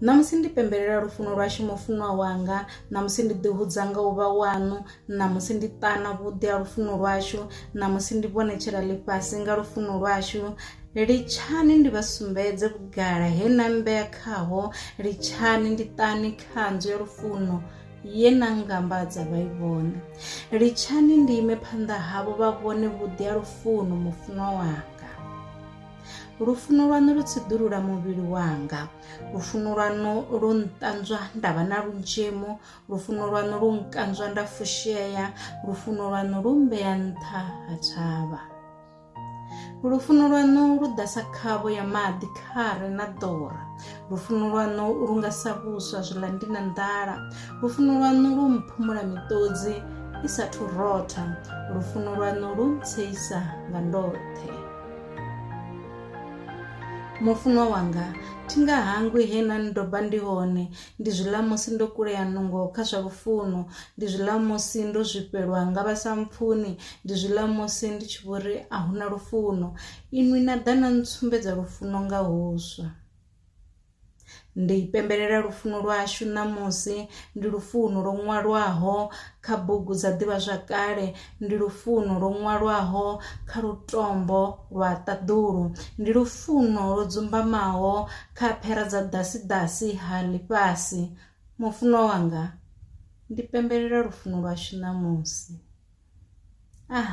Ṋamusi ndi pembelela lufuno lwashu mufunwa wanga ṋamusi ndi ḓi hudza nga u vha waṋu ṋamusi ndi ṱana vhuḓi ha lufuno lwashu ṋamusi ndi vhonetshela ḽifhasi nga lufuno lwashu litshani ndi vha sumbedze vhugala he na mmbea khaho litshani ndi ṱani khanzu ya lufuno ye na ngambadza vha i vhone litshani ndi ime phanḓa havho vha vhone vhuḓi ha lufuno mufunwa wanga lufuno lwaṋu lu tsiḓulula muvhili wanga lufuno lwaṋu lu nṱanzwa nda vha na lunzhemo lufuno lwaṋu lu nkanzwa nda fushea lufuno lwaṋu lu mmbea nṱha ha thavha lufuno lwaṋu lu ḓasa khavho ya maḓi khare na ḓora lufuno lwaṋu lu nga sa vhuswa zwiḽa ndi na nḓala lufuno lwaṋu lu mphumula miṱodzi i sathu rotha lufuno lwaṋu lu ntseisa nga ndoṱhe Mufunwa wanga, thi nga hangwi he na ndoba ndi hone, ndi zwi ḽa musi ndo kulea nungo kha zwa lufuno, ndi zwi ḽa musi ndo zwifhelwa nga vha sa mpfuni, ndi zwi ḽa musi ndi tshi vho ri a hu na lufuno. Inwi na ḓa na ntsumbedza lufuno nga huswa. Ndi pembelela lufuno lwashu ṋamusi, ndi lufuno lwo ṅwalwaho kha bugu dza ḓivhazwakale, ndi lufuno lwo ṅwalwaho kha lutombo lwa ṱaḓulu, ndi lufuno lwo dzumbamaho kha phera dza ḓasidasi ha ḽifhasi. Mufunwa wanga, ndi pembelela lufuno lwashu ṋamusi. Ah.